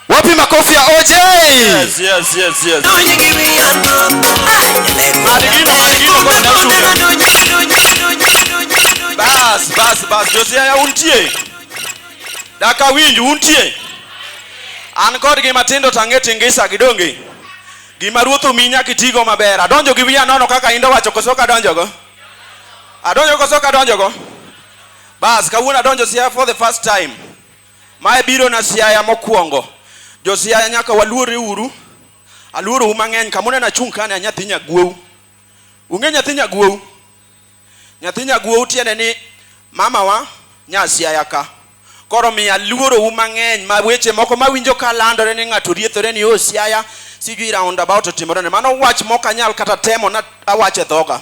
Wapi makofi ya OJ? Yes, yes, yes, yes. Bas, bas, bas. Josia ya untie. Daka winj untie. An kod gi matindo tange tingisa gidonge. Gima ruoth omi nyaka itigo maber. Adonjo gi wiya nono kaka indo wacho koso ka donjogo. Adonjo koso ka donjogo. Bas, kawuono adonjo sia for the first time. Mae biro na Siaya mokuongo. Jo Siaya nyaka waluore uru. Aluoro u mang'eny kama uneno achung' kani a nyathi nyaguow. Ung'e nyathi nyaguow? Nyathi nyaguow tiende ni mama wa nya Siaya ka. Koro omiyo aluoro u mang'eny ma weche moko ma awinjo ka landore ni ng'ato riethore ni oh Siaya sijui round about otimore ne. Mano wach mok anyal kata temo ni awache dhoga.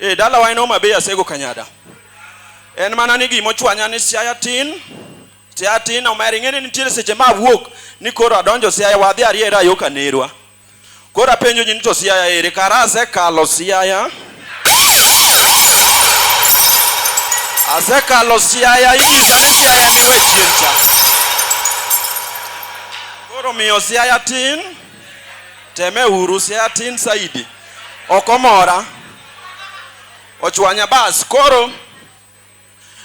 Eh, dalawa en Homa Bay Asego Kanyada. En mana ni gima ochwanya ni Siaya tin, Siaya tin omera ing'eni nitiere seche ma awuok ni koro adonjo Siaya wadhi ariera yo Kanerwa. Koro apenjo ji ni to Siaya ere kara asekalo Siaya. Asekalo Siaya inyisa ni Siaya ni we chien cha. Koro miyo Siaya tin, teme uru Siaya tin saidi. ok omora ochwanya bas koro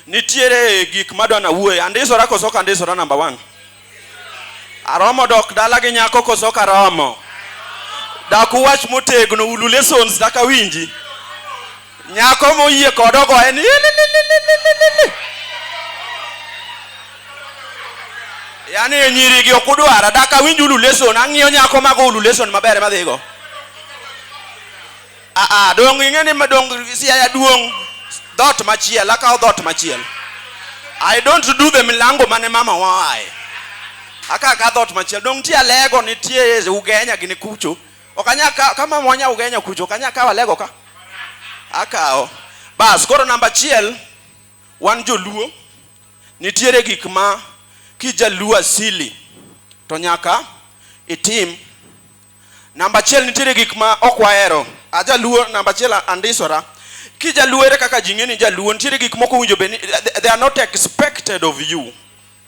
nitiere gik madwa nawuoye andisora koso ok andisora namba one aromo dok dala gi nyako koso ok aromo dak uwach motegno ulu lessons dak awinji Nyako moyie kod ogoye ni "Ilililililili." Yaani e nyiri gi ok udwara, dak awinj ulu lesson, ang'iyo nyako mago ulu lesson maber ema dhigo. Ah ah, dong' ing'e ni ma- dong' siaya duong' dhoot machiel, akawo dhoot machiel. I don't do the milango mane mama waye. Aka ka dhoot machiel, dong' nitie alego, nitie ugenya gini kucho, Okanya ka, kama mwanya ugenya kucho okanya kawa lego ka. Akawo. Bas, koro namba achiel wan joluo nitiere gik ma kijaluo asili to nyaka itim. Namba achiel nitiere gik ma ok wahero. Ajaluo namba achiel andisora. Kijaluo ere kaka ji ng'e ni ijaluo? Nitiere gik moko owinjo bed ni they are not expected of you.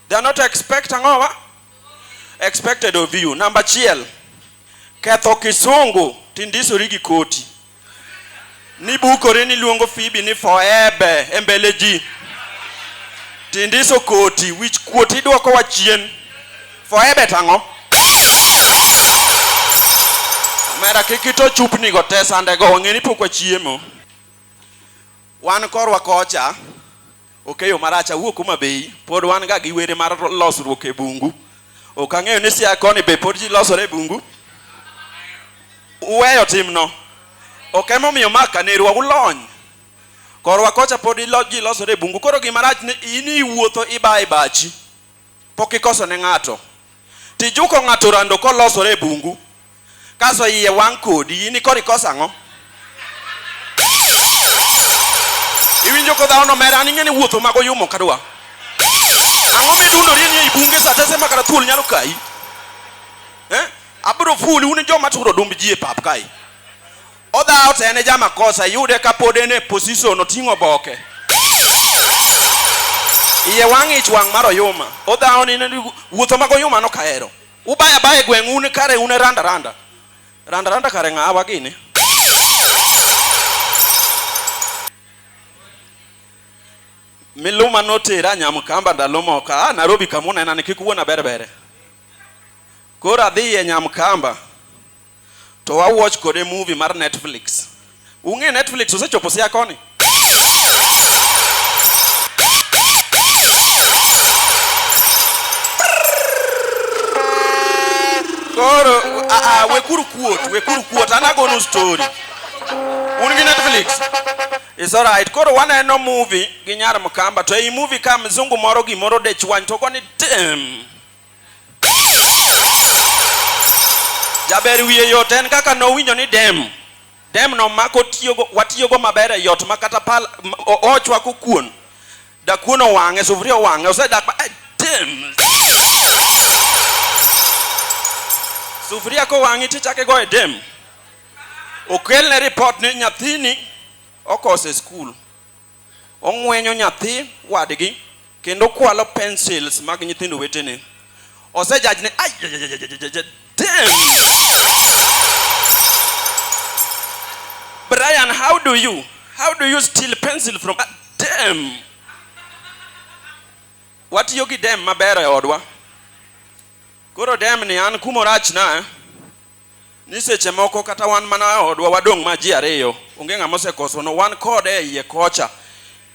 They are not expect ang'o wa? Expected of you. Namba achiel, ketho kisungu tindisori gi koti. Nibukori niluongo Phoebe ni foebe e mbele ji. Tindiso koti, wich kuot idwoko wa chien. Foebe tang'o? Omera kik ito chupnigo te sandego, wang'eni pok wachiemo. Wan korwa kocha okeyo marach awuok Homa Bay pod wan ga gi were mar losruok e bungu. Ok ang'eyo ni Siaya koni be pod ji losore e bungu. Uweyo timno. Ok ema omiyo ma kanerwa ulony. Korwa kocha pod ji losore e bungu koro gima rach ni in iwuotho ibayo e bachi. Pok ikoso ne ng'ato. Tijuko ng'ato rando kolosore e bungu. Kaso iye wang' kodi. In koro ikoso ang'o? Iwinjo ko dhawono mer an ing'e ni wuotho mago yumo kadwa. Ang'o midundori ni ei bunge sa te sema kata thuol nyalo kayi. Eh? Abro fuli un joma turo dumb ji e pap kae. Odhawo to en e jamakosa, iyude ka pod en e position oting'o boke. Iye wang' ich wang' mar oyuma. Odhawo ni ni- wuotho mag oyuma no kahero. Ubaya baya e gweng' un kare un e randa randa. Randa randa kare ng'awa gini. Miluma notera Nyamkamba ndalo moko. Ah, Nairobi kama unena ni kik wuona berbere. Koro adhi e Nyamkamba. To wa watch kode movie mar Netflix. Ung'e Netflix osechopo sia koni. Koro a a wekuru kuot, wekuru kuot an agonu story. Un gi Netflix. It's alright. Koro waneno movie gi nyar Mkamba to ei movie ka mzungu moro gimoro dechwany to ogoni tim. Jaber wiye yot en kaka nowinjo ni dem dem no mako tiyogo watiyogo maber e yot ma kata pal ochwako kuon da kuon owang'e sufuria owang'e osedak ma eh, dem sufuria kowang'i tichake go e dem okelne report ni nyathini okose skul ong'wenyo nyathi wadgi, kendo okwalo pencils mag nyithindo wetene. Osejaj ne ayayayayayayay damn! Brian, how do you how do you steal pencil from ah, damn? Watiyo gi dem maber e odwa. Koro dem ni an kumorachna eh? ni seche moko kata wan mana e odwa wadong' ma ji ariyo, onge ng'ama osekosonwa, wan kode e iye kocha,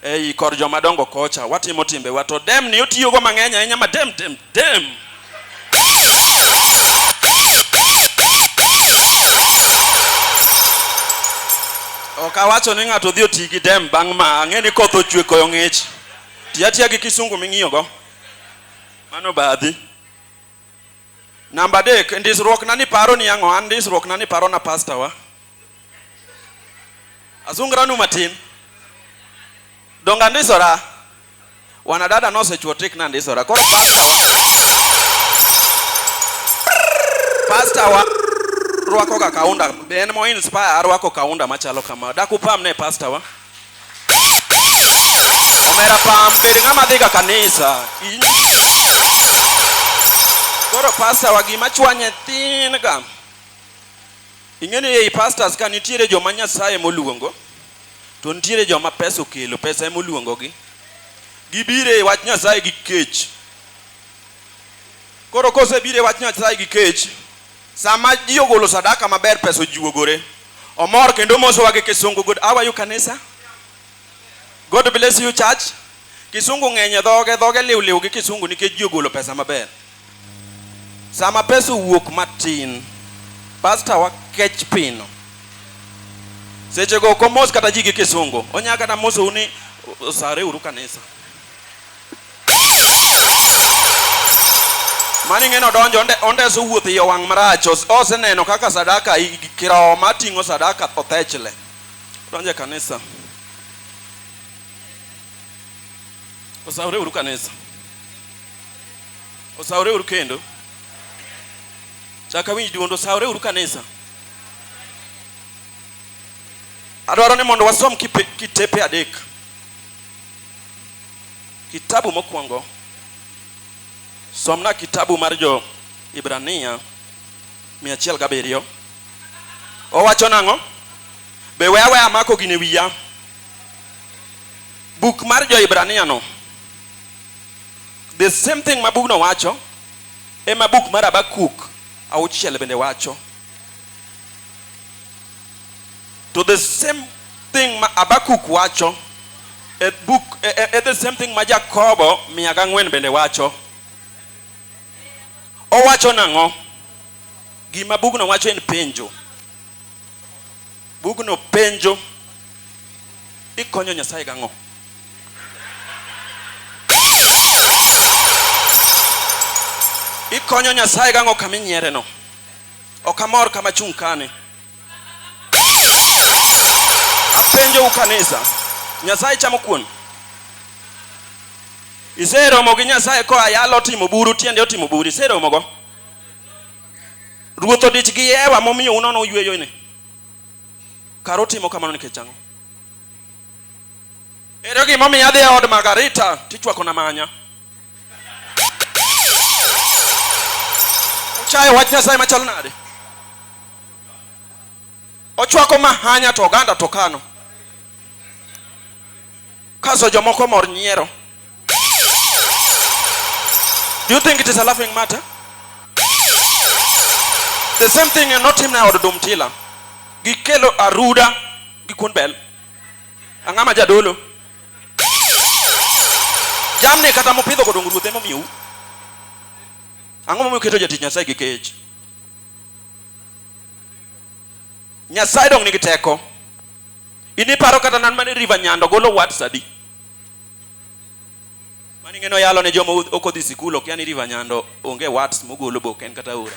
ei kor joma dongo kocha, watimo timbewa. To dem ni otiyogo mang'eny ahinya ma dem, dem, dem. Ok awacho ni ng'ato odhi oti gi dem bang' ma, ang'e ni koth ochwe koyo ng'ich. Ti atiya gi kisungu ming'iyogo. Mano badhi. Namba adek, e ndisruokna ni paro ni ang'o? An ndisruokna ni parona pastor wa. Asungranu matin. Donga ndisora. Wanadada nosechuo tik na ndisora. Koro pastor wa. Pastor wa rwako ga kaunda. En mo inspire arwako kaunda machalo kama. Dakupam ne pastor wa. Omera pam, bed ng'ama dhiga kanisa. Koro pasta wa gima chwanye thin ga. Ing'eni ei pastors ka nitiere joma Nyasaye moluongo, to nitiere joma pesa okelo, pesa emoluongogi. Gibire e wach Nyasaye gi kech. Koro kosebire e wach Nyasaye gi kech, Sama ji ogolo sadaka maber, pesa ojuogore. Omor kendo omosowa gi Kisungu. Good, how are you kanisa? God bless you church. Kisungu ng'eny e dhoge, dhoge liw liw gi Kisungu nikech ji ogolo pesa maber. Sama pesa owuok matin, pasta wa kech pino. Seche go ok omos kata ji gi Kisungu. Onya kata mosou ni "Sare uru kanisa. Mani ng'eno donjo onde, ondeso wuoth iye wang' marach os- oseneno kaka sadaka i- i- kiroho mating'o sadaka othechle donjo e kanisa osawreuru kanisa osawreuru kendo chaka winj duondo osawreuru kanisa adwaro ni mondo wasom kipe- kitepe adek Kitabu mokwongo, somna kitabu mar jo Ibrania 107. Owacho nang'o? Be we aweya amako gine wiya. Buk mar jo Ibrania no, the same thing ma bugno wacho, ema buk mar Habakuk auchiel bende wacho. To the same thing ma Abakuk wacho e book e, e, e the same thing ma Jakobo mia gang'wen bende wacho. Owacho nang'o? Gima bugno wacho en penjo. Bugno penjo ikonyo Nyasaye gang'o? Ikonyo Nyasaye gang'o kama inyiereno? Ok amor kama chung' kani. Apenjo ukanisa, Nyasaye chamo kuon? Iseromo gi Nyasaye koa yalo otimo buru tiende otimo buru iseromogo? Ruoth odich gi Ewa momiyo unono uyweyo ne. Kar utimo kamano nikech ang'o? Ere gima omiyo adhi e od Margarita tichwako na manya? Uchayo wach Nyasaye machal nade? Ochwako mahanya to oganda to kano. Kaso jomoko mor nyiero. Do you think it is a laughing matter? The same thing notimne od Dumtila. Gikelo aruda gi kuon bel. Ang'ama jadolo. Jamni kata mopidho kodong ruothe momiyou. Ang'o momiyo keto jatich Nyasaye gi kech? Nyasaye dong nigi teko. Ini paro kata nan mane River Nyando golo words adi? Mani ngeno yalo ne jomo ok odhi sikul ok yani River Nyando onge words mogolo bok en kata ora.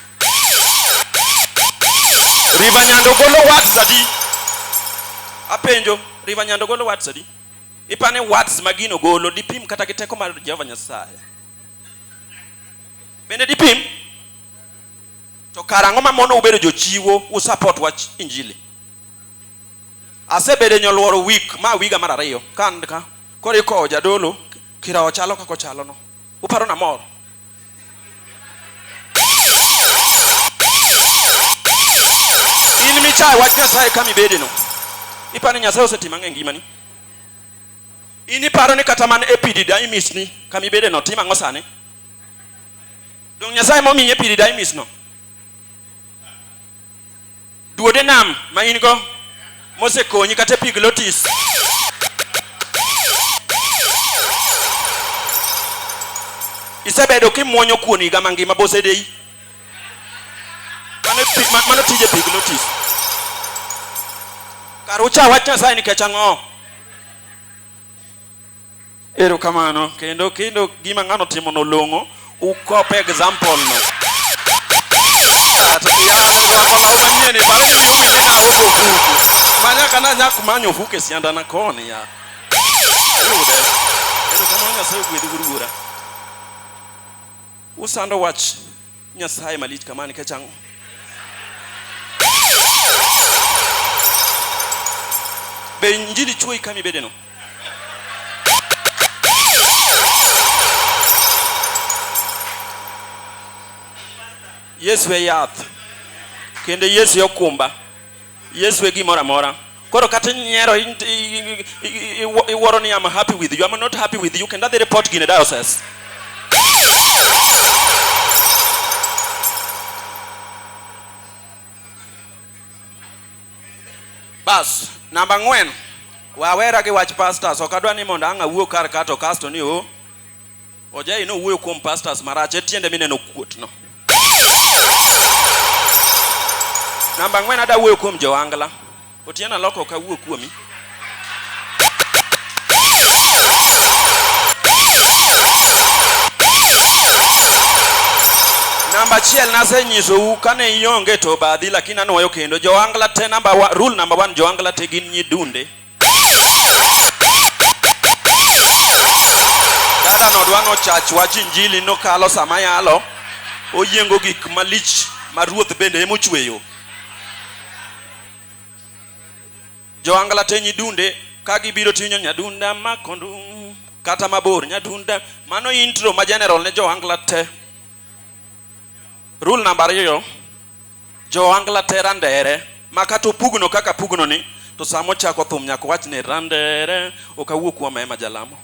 River Nyando golo words adi? Apenjo, River Nyando golo words adi? Ipane words magino golo dipim kata gi teko mar Jehova Nyasaye. Bende dipim? To kara ang'o ma mono ubedo jochiwo u support wach injili? Asebedo e nyoluoro week ma wiga mar ariyo ka an ka koro ikowo jadolo kirowo chalo kaka ochalo no. Uparo na mor? In michaye wach Nyasaye kama ibede no. Iparo ni Nyasaye osetimo ang'o e ngimani? In iparo ni kata man e pidida imisni kama ibede no timo ang'o sani? Donge Nyasaye momiye epididymis no? Duode nam ma in go mosekonyi kata epiglotis. Isebedo kimwonyo kuon higa mangima bosedeyi. Mano, epi- ma- mano tije epiglotis. Kar ucha wach Nyasaye nikech ang'o? Erokamano kendo kendo gima ng'ano timo no long'o ukope example no. Ati kiyana kwa kwa mauma nyene bali ni yumi ni na uko kuku. Manya kana nyaku manyo fuke sianda na koni ya. Yude. Erokamano nyasaye gwedhi gurugura. Usando wach Nyasaye malich kama nikech ang'o? Be injili chuoyi kama ibedeno? Yesu e yath kendo Yesu e okumba. Yesu e gimoro amora. Koro kata inyiero iwuoro ni I'm happy with you, I'm not happy with you, kendo adhi report gine diocese. Bas, namba ng'wen, wawera gi wach pastors, ok adwa ni mondo ang' awuo kar kato kasto ni o oh, Ojai no wuoyo kuom pastors marach etiende mineno kuot no. Namba ng'wen ada wuoyo kuom Joangla. Otieno aloko ok awuo kuomi. Namba achiel nasenyisou kane ionge to obadhi lakini anuoyo kendo. Joangla te namba wa, rule namba one, Joangla te gin nyidunde. Dada no dwa nochach wach injili nokalo sama yalo oyiengo gik malich ma ruoth bende emochweyo. Joangla te nyidunde ka gibiro tinyo nyadunda makondu kata mabor nyadunda mano intro ma general ne joangla te. Rule namba ariyo Joangla te randere ma kata opugno kaka apugno ni to sama ochako thum nyaka owach ni randere ok awuo kuom ema jalamo.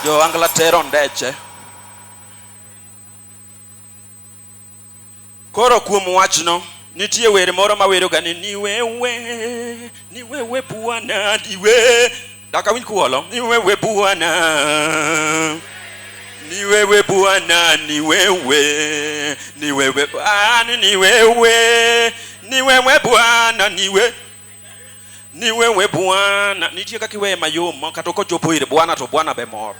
Joangla te rondeche. Koro kuom wachno nitie wer moro maweroga ni niwewe niwewe bwana niwe Dak awinj kuwolo ni wewe Bwana, ni wewe Bwana, ni wewe, ni wewe Bwana, ni wewe, ni wewe Bwana, ni wewe ni wewe Bwana. Nitie kaka iweye mayom ma kata okochopo ire Bwana to Bwana be mor.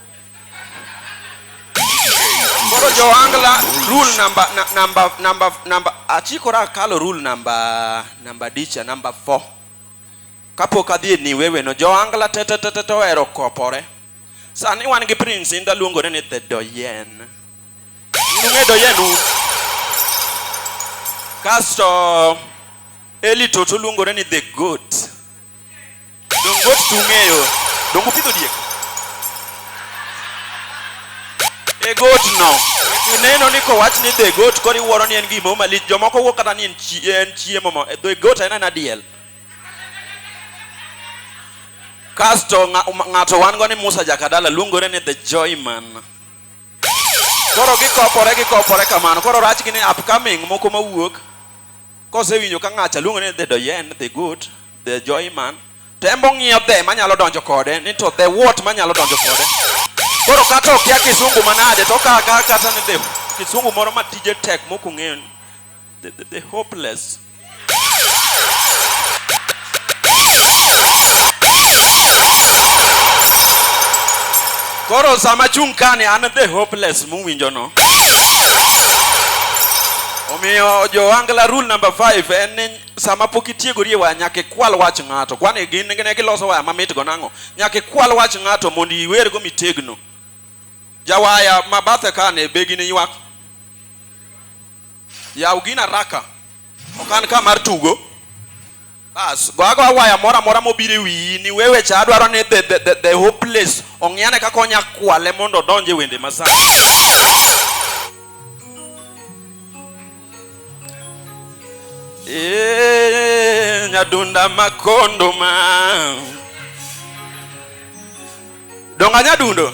Koro Joangla rule number na- number number number achikora kalo rule number number dicha number 4. Kapok adhi e New Eweno, Joangla tetetete ohero kopore. Sani wan gi Prince Inda luongore ni The Doyen. Nung'e Doyen un. Kasto Eli Toto luongore ni The Goat. Dongo goat tung'eyo. Dongo pidho diek. The Goat no. Ineno ni kowach ni The Goat koro iwuoro ni en gimoro malich. Jomoko wuo kata ni en chiemo. The Goat en en adiel. Kasto ng'ato wan go ni Musa Jakadala luongore ni The Joyman. Koro gikopore gikopore kamano. Koro rach gi ni upcoming moko mawuok kosewinjo ka ng'acha luongore ni The Doyen, The Good, The Joyman. Tembo ng'iyo the manyalo donjo kode ni to the what manyalo donjo kode. Koro kata okia kisungu manade to kaka kata ni the kisungu moro matije tek mokung'eyo ni the, the, the hopeless. Koro sama chung' kani an the hopeless muwinjo no. Omiyo Joangla rule number 5 en ni sama pok itiegori e waya nyaka ikwal wach ng'ato. Kwani gin ne giloso waya mamit go nang'o? Nyaka ikwal wach ng'ato mondo iwergo mitegno. Jawaya ma bathe kani be gini ywak. Yaw gina raka. Ok an ka mar tugo. Bas, go ago awaya mora mora mobiro e wiyi ni wewe cha adwaro ni the, the, the, the hopeless ong'iane kaka onya kwale mondo odonje wende masani. Eh, nyadunda makondo ma. Donga nyadundo.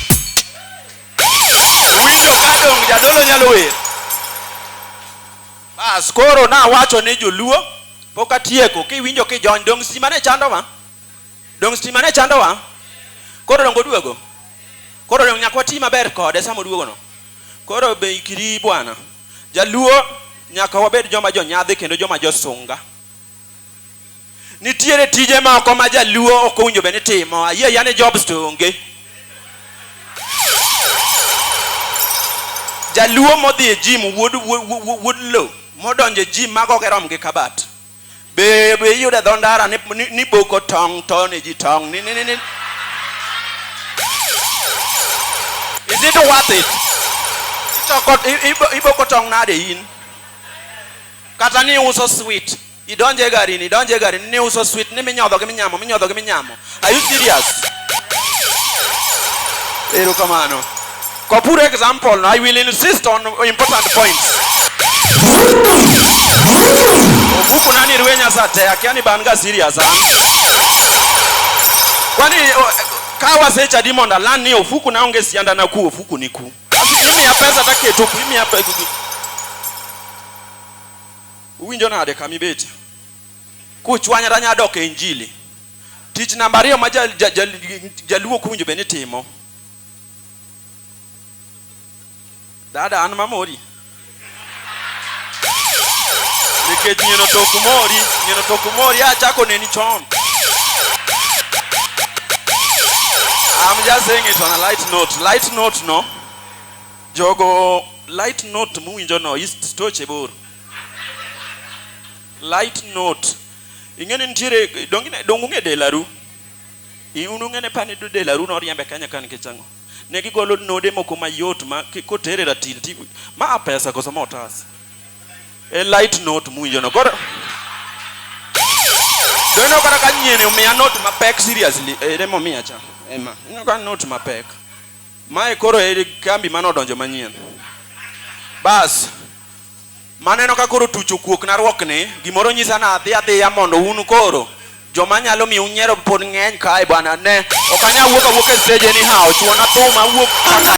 Winjo ka dong' jadolo nyalo wer. Bas koro nawacho ne joluo pok atieko kiwinjo kijony dong' stima ne chandowa? Dong' stima ne chandowa? Koro dong' oduogo? Koro dong' nyaka wati maber kode sama oduogono? Koro be ikri bwana? Jaluo nyaka wabed joma jonyadhi kendo joma josunga. Nitiere tije moko ma jaluo ok owinjo bed ni timo. Ayie ayia ni jobs to onge. Jaluo modhi e jim wuod wuod lo modonjo e jim mago ok rom gi kabat. Be be iyudo e dho ndara ni, ni, ni boko tong' to ne ji tong' ni, ni, ni, ni. Is it worth it? Itoko, i- ibo- iboko tong' nade in? Kata ni uso sweet. Idonje e garini, idonje e garini, ni uso sweet, ni minyodho gi minyamo, minyodho gi minyamo. Are you serious? Ero kamano. Kwa pure example, no, I will insist on important points. Obuku nani ruwe nyasa te, akia ni banga serious, ha? Kwani, o- ka wasecha dimonda, lani ofuku naonge sianda na ku, ofuku ni ku. Basi imiya pesa to aketo ku, imiya pe- gi- gi- uwinjo nade kama ibetie kuchwanyra nya dok e injili tich namba ariyo ma ja- ja- ja- jaluo ok owinjo bed ni timo dada an mamori nikech nyieno to ok mori nyieno to ok mori achako neni chon I'm just saying it on a light note. Light note no. Jogo light note muwinjo no is stoche bor. Light note. Ing'eni nitiere donge donge delaru. Iunu ng'ene pani do delaru no riembe Kenya kan kichang'o. Ne gigolo node moko mayot ma kotere ratil ti ma a pesa koso ma otas. E light note muwinjo no. Koro to ineno kata ka nyieni omiya note mapek seriously ere momiya cha ema ineno ka note mapek mae koro e kambi mane odonjo manyien bas Maneno ka koro tuch okuok narwokni, gimoro nyisa nadhi adhiya mondo un koro joma nyalo miyo unyiero pod ng'eny kae bwana ne. Ok anya wuok awuok e stage anyhow, chuona thum awuok kaka